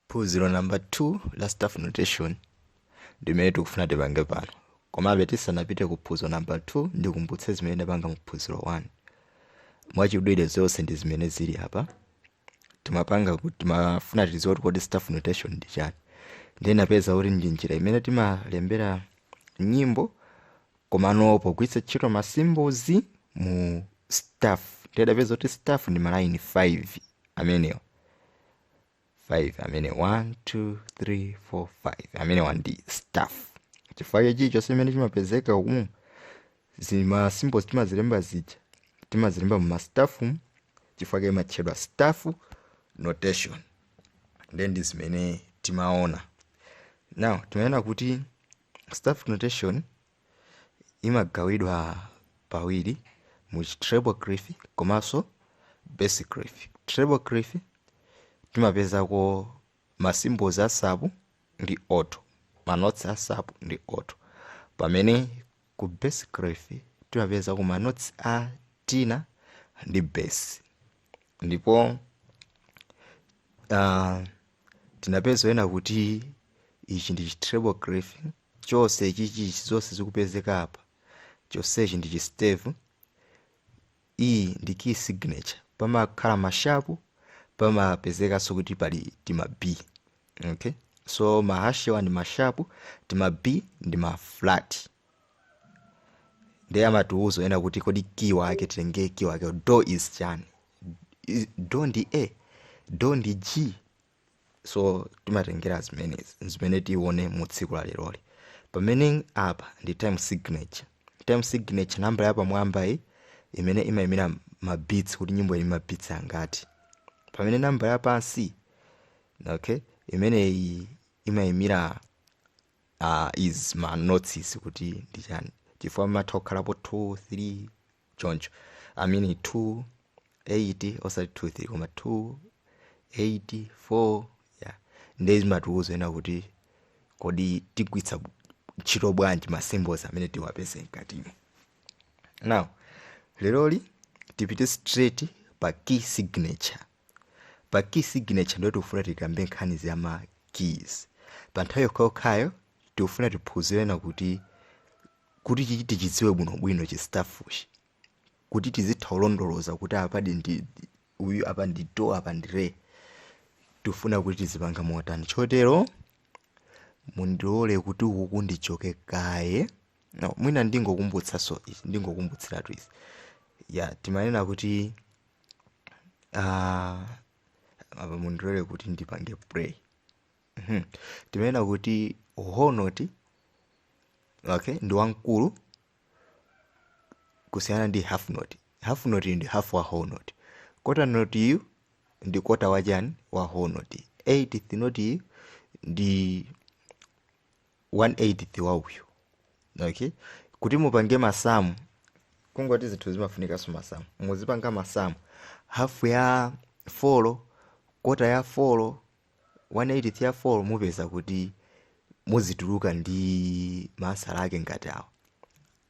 phunziro namba 2 la staff notation ndi limene tikufuna tipange pano komabe tisanapite ku phunziro namba 2 ndikumbutse zimene tinapanga mu phunziro 1 mwachidule zonse ndi zimene zili apa timapanga kuti timafuna tidziwe kuti kodi staff notation ndi chani ndiye tinapeza kuti ndi njira imene timalembera nyimbo Komano pogwiritsa ntchito ma symbols mu staff ndiye tinapeza kuti staff ndi malayini 5 amenewa 5 amenewa 1 2 3 4 5 amenewa ndi staff chifukwa chake chilichonse chimene chimapezeka umu zima symbols timazilemba zija timazilemba mu mastaff mu chifukwa chake imatchedwa staff notation then ndi zimene timaona now timaona kuti Staff notation imagawidwa pawiri mu treble clef komanso bass clef. Treble clef timapezako ma symbols a sop ndi alto, ma notes a sop ndi alto. Pamene ku bass clef timapezako ma notes a tenor ndi bass. Ndipo uh, Tinapeza zonena kuti ichi ndi chi treble clef chonse ichichi zonse zikupezeka apa chonsechi ndi chi stave iyi ndi key signature pamakhala ma sharp pamapezekanso kuti pali tima B okay so ma hash awa ndi ma sharp tima B ndi ma flat ndiye amatiuza zonena kuti kodi key wake titenge key wake do is chani Is- do ndi a do ndi g so timatengera zimenezi zimene tione mu tsiku la leroli pamene apa ndi time signature time signature nambala yapamwamba iyi imeneyi imayimira ma beats kuti nyimbo ili ndi ma beats angati pamene nambala yapansi okay imeneyi imayimira uh, is ma notes kuti ndi chani chifukwa pamatha kukhalapo 2 3 choncho i mean 2 8 osati 2 3 koma 2 8 4 yeah ndiye zimatiuza zonena kuti kodi tigwitsa ntchito bwanji ma symbols amene tiwapeze mkatimo now leroli tipite straight pa key signature pa key signature ndiyo tikufuna tikambe nkhani za ma keys pa nthawi yokhayokhayo tikufuna tiphunzire zonena kuti kuti chichi tichidziwe bwinobwino chi staff chi kuti tizitha kulondoloza kuti apa ndi uyu apa ndi do apa ndi re tifuna kuti tizipanga motani chotero mundilole kuti ukuku ndichoke kaye no, mwina ndingokumbutsanso izi ndingokumbutsiratu izi ya timanena kuti ah, apa mundilole kuti ndipange play Mhm. timanena kuti whole note okay ndi wamkulu kusiyana ndi half note half note ndi half wa whole note quarter note yu ndi quarter wa chani wa whole note eighth note yu ndi one eighth wa uyu okay kuti mupange masamu kungoti zinthu zimafunikanso masamu muzipanga masamu half ya four quarter ya four one eighth ya four mupeza kuti muzituluka ndi ma ansala ake ngati awo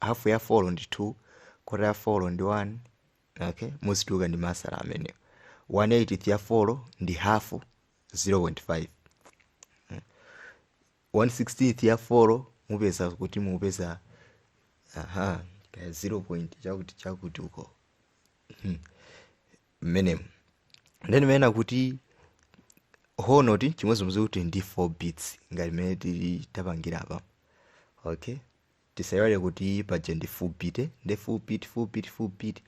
half ya four ndi two quarter ya four ndi one okay muzituluka ndi ma ansala amenewo one eighth ya four ndi half 0.5 one sixteenth ya four mupeza kuti mupeza aha kaya 0 point chakuti chakuti uko Hmm. mmenemo then timanena kuti whole note chimodzimodzi kuti ndi 4 beats ngati mmene tili tapangira apa okay tisaiwale kuti paja ndi full beat eh? ndi full beat full beat full beat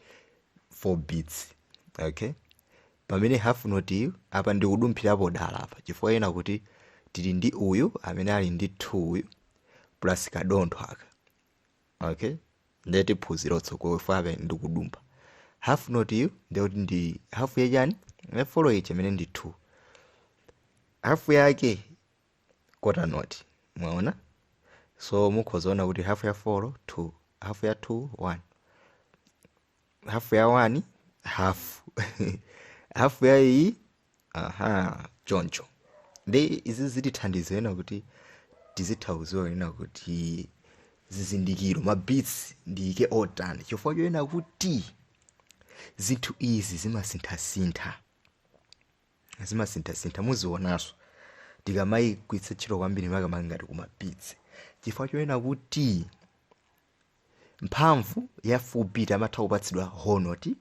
4 beats okay pamene half note yu apa ndikudumphirapo dala apa chifukwa chonena kuti tili ndi uyu amene ali ndi 2 uyu plus kadontho aka okay ndiye tiphunzira tsogolo chifukwa apa ndikudumpha half note yu ndiye kuti ndi half ya chani ya four ichi imene ndi 2 half yake quarter note mwaona so mukhoza kuona kuti half ya 4 2 half ya 2 1 half ya 1 half half ya iyi aha choncho ndi izi zitithandiza kunena kuti tizitha kudziwa kunena kuti zizindikiro ma beats ndiyike otani chifukwa chonena kuti zinthu izi zimasinthasintha zimasinthasintha muzionanso tikamayigwiritsa ntchito kwambiri makamaka ngati kuma beats chifukwa chonena kuti mphamvu ya full beat amatha kupatsidwa whole note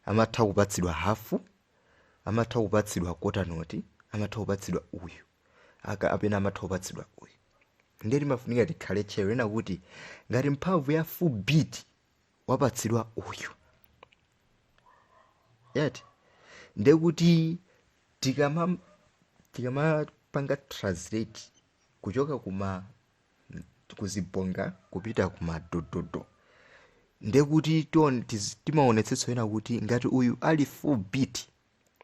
amatha kupatsidwa half amatha kupatsidwa quarter note amatha kupatsidwa uyu kapena amatha kupatsidwa uyu ndiye timafunika tikhale tcheru kunena kuti ngati mphamvu ya full beat wapatsidwa uyu eti ndiye kuti tikama tikamapanga translate kuchoka kuma kuziponga kupita ku madododo nde kuti tione- tiz- timaonetsetsa ena kuti ngati uyu ali full beat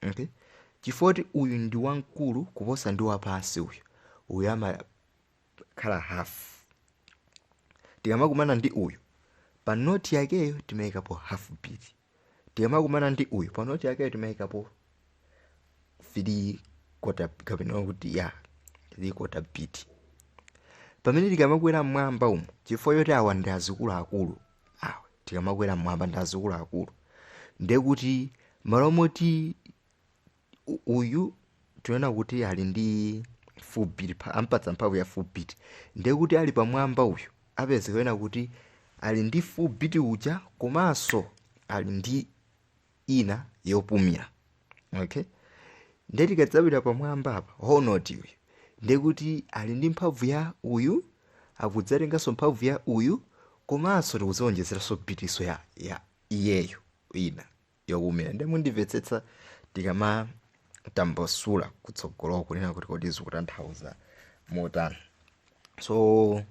okay? chifukwa kuti uyu ndi wamkulu kuposa ndi wapansi uyu uyu amakhala half tikamakumana ndi uyu pa noti yakeyo timayikapo half beat tikamakumana ndi uyu pa noti yakeyo timayikapo 3 quarter kapena kuti ya 3 quarter beat pamene tikamakwera mmwamba umu chifukwa yoti awa ndi azikuluakulu awa tikamakwera mmwamba ndi azikuluakulu ndiye kuti malo moti u- uyu tinena kuti ali ndi full beat ta- tampatsa mphamvu ya full beat ndiye kuti ali pamwamba uyu apezeka ena kuti ali ndi full beat uja komanso ali ndi ina yopumira okay ndiye tikadzapita pamwamba apa whole note uyu ndiye kuti ali ndi mphamvu ya uyu akudzatenganso mphamvu ya uyu komanso tikudzaonjezeranso beatinso ya, ya iyeyo ina yopumira nde mundimvetsetsa tikamatambasula kutsogoloko kunena kuti kodi zikutanthauza motani so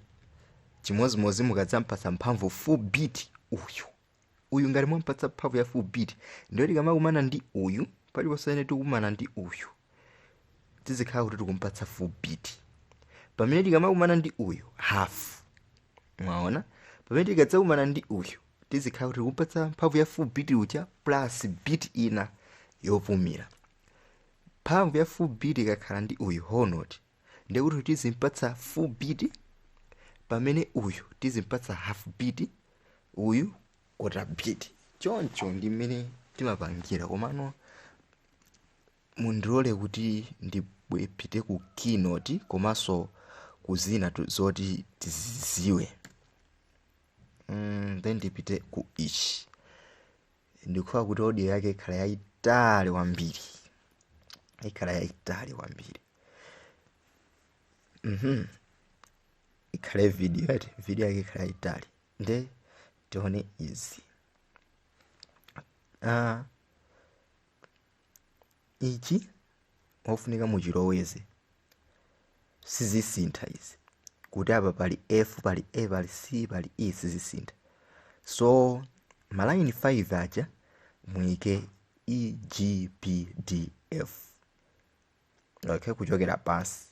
chimodzimodzi mukadzampatsa mphamvu full beat uyu uyu ngati mwampatsa mphamvu ya full beat ndiye tikamakumana ndi uyu paliponse amene tikukumana ndi uyu tizikhala kuti tikumpatsa full beat pamene tikamakumana ndi uyu half mwaona pamene tikadzakumana ndi uyu tizikhala kuti tikumpatsa mphamvu ya full beat uja plus beat ina yopumira mphamvu ya full beat ikakhala ndi uyu whole note ndiye kuti tizimpatsa full beat pamene uyu tizimpatsa half beat uyu quarter beat choncho ndi mmene timapangira komano mundilole kuti ndipite ku keynote komanso ku zina tu- zoti tiziziwe mm, then ndipite ku ichi ndikuona kuti audio yake ikhala yayitali kwambiri ikhala yayitali kwambiri mhm ikhale video eti video yake ikhala yayitali nde tione izi ah ichi mofunika muchiloweze sizisintha izi kuti apa pali f pali a pali c pali e sizisintha so malayini 5 aja muyike e g b d f okay kuchokera pansi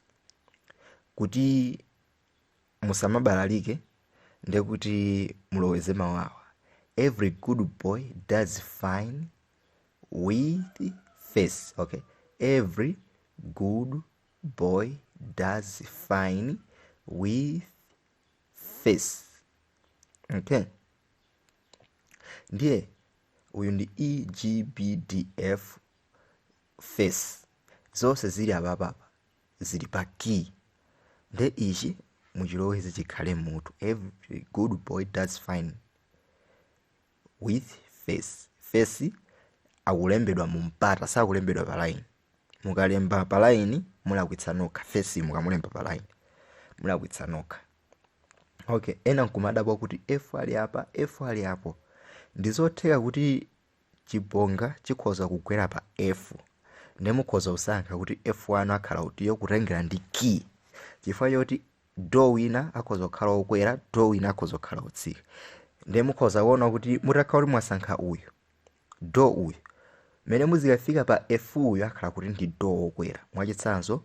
kuti musamabalalike ndekuti muloweze mawawa every good boy does fine with face okay every good boy does fine with face okay ndiye uyu ndi egbdf face zonse zili apapapa zili pa key nde ichi muchiloweze chikhale mmutu every good boy does fine with face face akulembedwa mu mpata sakulembedwa pa line mukalemba pa line mulakwitsa nokha face mukamulemba pa line mulakwitsa nokha okay ena nkumadabwa kuti f ali apa f ali apo ndizotheka kuti chibonga chikhoza kugwera pa F ndiye mukhoza kusankha kuti F wanu akhala utiyo kutengera ndi key chifukwa choti do wina akhoza kukhala okwera do wina akhoza kukhala otsika ndiye mukhoza kuona kuti mutakhala kuti mwasankha uyu do uyu mmene muzikafika pa F uyu akhala kuti ndi do okwera mwachitsanzo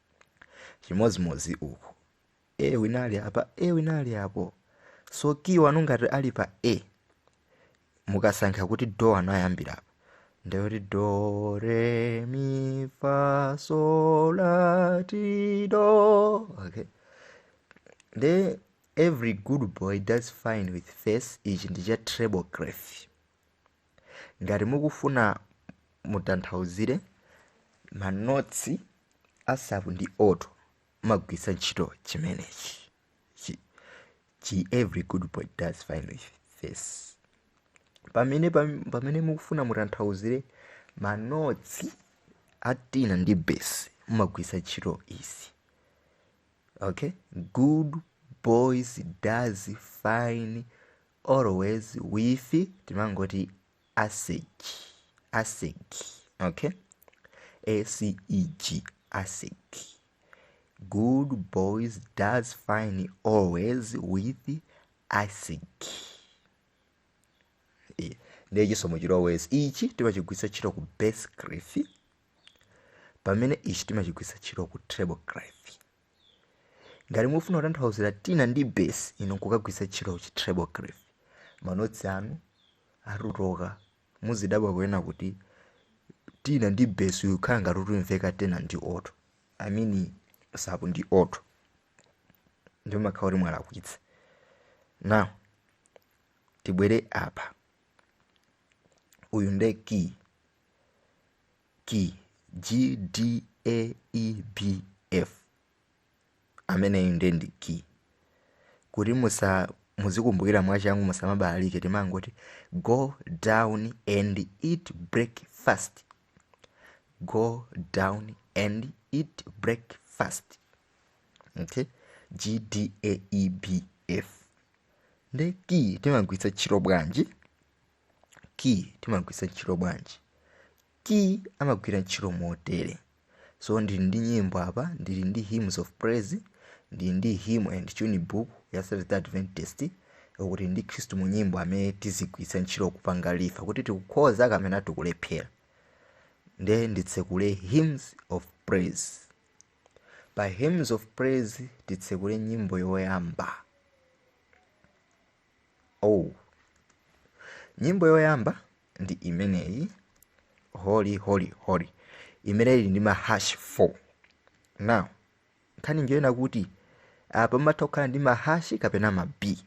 chimodzimodzi uku e wina ali apa e wina ali apo so key wanu ngati ali pa e mukasankha kuti do wanu ayambira apa ndekuti do re mi fa so la ti do okay nde every good boy does fine with face ichi ndi cha treble clef ngati mukufuna mutanthauzire manotsi a sapu ndi oto mumagwiritsa ntchito chimenechi chi every good boy does fine with this pamene pam- pamene mukufuna mutanthauzire manotsi a tina ndi bass mumagwiritsa ntchito izi okay good boys does fine always with timangoti aseg aseg okay aceg aseg good boys does fine always with aseg Eh, ndiye chisomo chili always ichi timachigwiritsa ntchito ku bass clef pamene ichi timachigwiritsa ntchito ku treble clef ngati mufuna kutanthauzira tina ndi bass inu nkukagwiritsa ntchito chi treble clef manotsi anu atutoka muzidabwa kuena kuti tina ndi bass uyu khala ngati utumveka tena ndi oto i mean sapu ndi oto ndipo makhala kuti mwalakwitsa now tibwere apa uyu nde key key gdaebf ameneyu nde ndi key kuti musa muzikumbukira mwachangu musamabalalike timangoti go down and eat breakfast go down and eat breakfast okay gdaebf nde key timagwiritsa ntchito bwanji key timagwiritsa ntchito bwanji key amagwira ntchito motere so ndili ndi nyimbo apa ndili ndi hymns of praise ndili ndi hymn and tune book ya Seventh Day Adventist kuti ndi khristu mu nyimbo amene tizigwiritsa ntchito kupanga refer kuti tikukhoza kapena tikulephera nde nditsekule hymns of praise pa hymns of praise titsekule nyimbo yoyamba Oh, nyimbo yoyamba ndi imeneyi holy holy holy imene ili ndi ma hash 4 now nkhani njoyena kuti apa matha kukhala ndi mahashi kapena ma b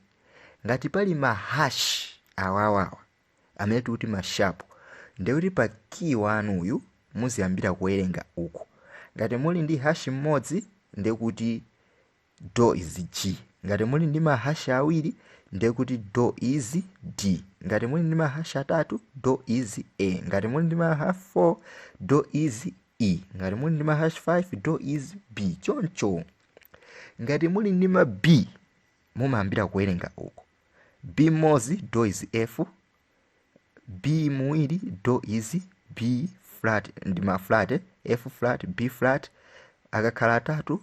ngati pali mahashi awawawa amene tikuti mashapu ndiye kuti pa kiyi wanu uyu muziyambira kuwerenga uku ngati muli ndi hashi mmodzi ndiye kuti do is G. Ngati muli ndi mahash awiri ndiye kuti do is D. Ngati muli ndi mahash atatu do is A. Ngati muli ndi mahash 4 do is E. Ngati muli ndi mahash 5 do is B. Choncho ngati muli ndi ma B mumayambira kuwerenga uku. B mmodzi do is F. B awiri do is B flat ndi ma flat F flat B flat akakhala atatu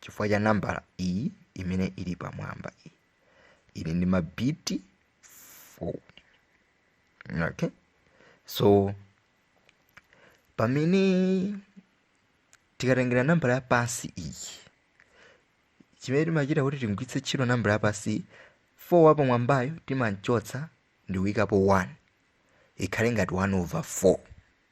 chifukwa cha nambala iyi imene ili pamwamba iyi ili ndi mabiti 4 okay so pamene tikatengera nambala ya pansi iyi chimene timachita kuti timgwiritse ntchito nambala ya pansi iyi 4 wapamwambayo timamchotsa ndi kuyikapo 1 ikhale ngati 1 over 4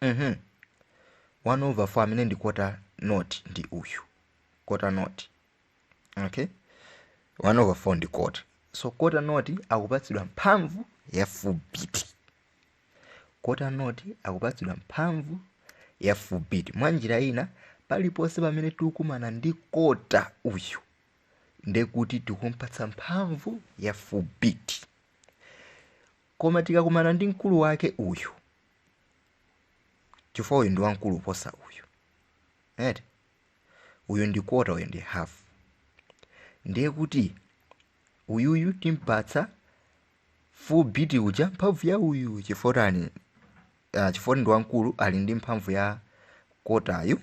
mhm 1 over 4 amene ndi quarter note ndi uyu quarter note okay 1 over 4 ndi quarter so quarter note akupatsidwa mphamvu ya full beat quarter note akupatsidwa mphamvu ya full beat mwa njira ina paliponse pamene tikukumana ndi quarter uyu ndekuti tikumpatsa mphamvu ya full beat koma tikakumana ndi mkulu wake uyu chifukwa uyu ndi wamkulu kuposa uyu right uyu ndi quarter uyu ndi half ndiye kuti uyuyu timpatsa full beat uja mphamvu ya uyu chifukwa tani chifukwa choti ndi wamkulu ali ndi mphamvu ya kotayu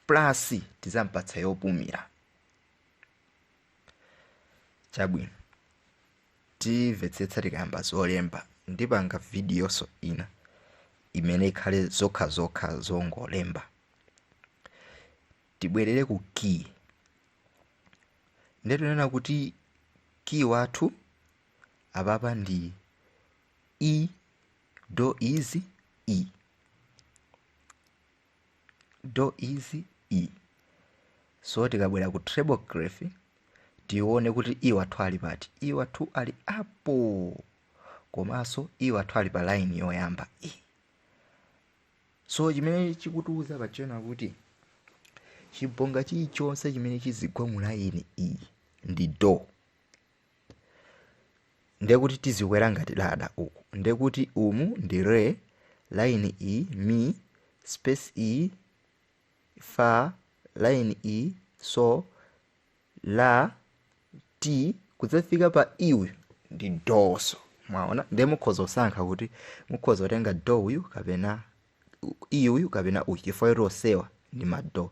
plus tizampatsa yopumira chabwino timvetsetsa tikayamba zolemba ndipanga vidiyoso ina imene ikhale zokha zokha zongolemba tibwerere ku key nde tinena kuti key wathu apapa ndi E do is E do is E so tikabwera ku treble clef tione kuti E wathu ali pati E wathu ali apo komanso E wathu ali pa line yoyamba E so chimene chikutiuza pa chenicheni kuti chibonga chilichonse chimene chizigwa mu line E ndi do ndekuti tizikwera ngati ladder uku ndekuti umu ndi re line iyi mi space iyi fa line iyi so la ti kudzafika pa E uyu ndi do so mwaona ndiye mukhoza kusankha kuti mukhoza kutenga do uyu kapena E uyu kapena uyu chifukwa kuti onsewa ndi ma do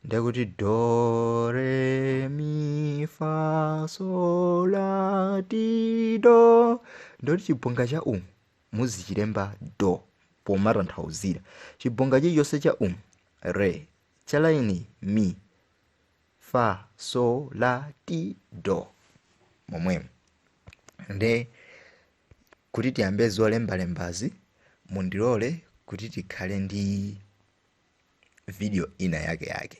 ndiye kuti do re mi fa so la ti do ndekuti chibonga cha umu muzichilemba do pomatanthauzira chibonga chilichonse cha umu ndi re cha laini mi fa so la ti do momwemo nde Kuti tiyambe zolembalembazi, mundilole kuti tikhale ndi vidiyo ina yakeyake.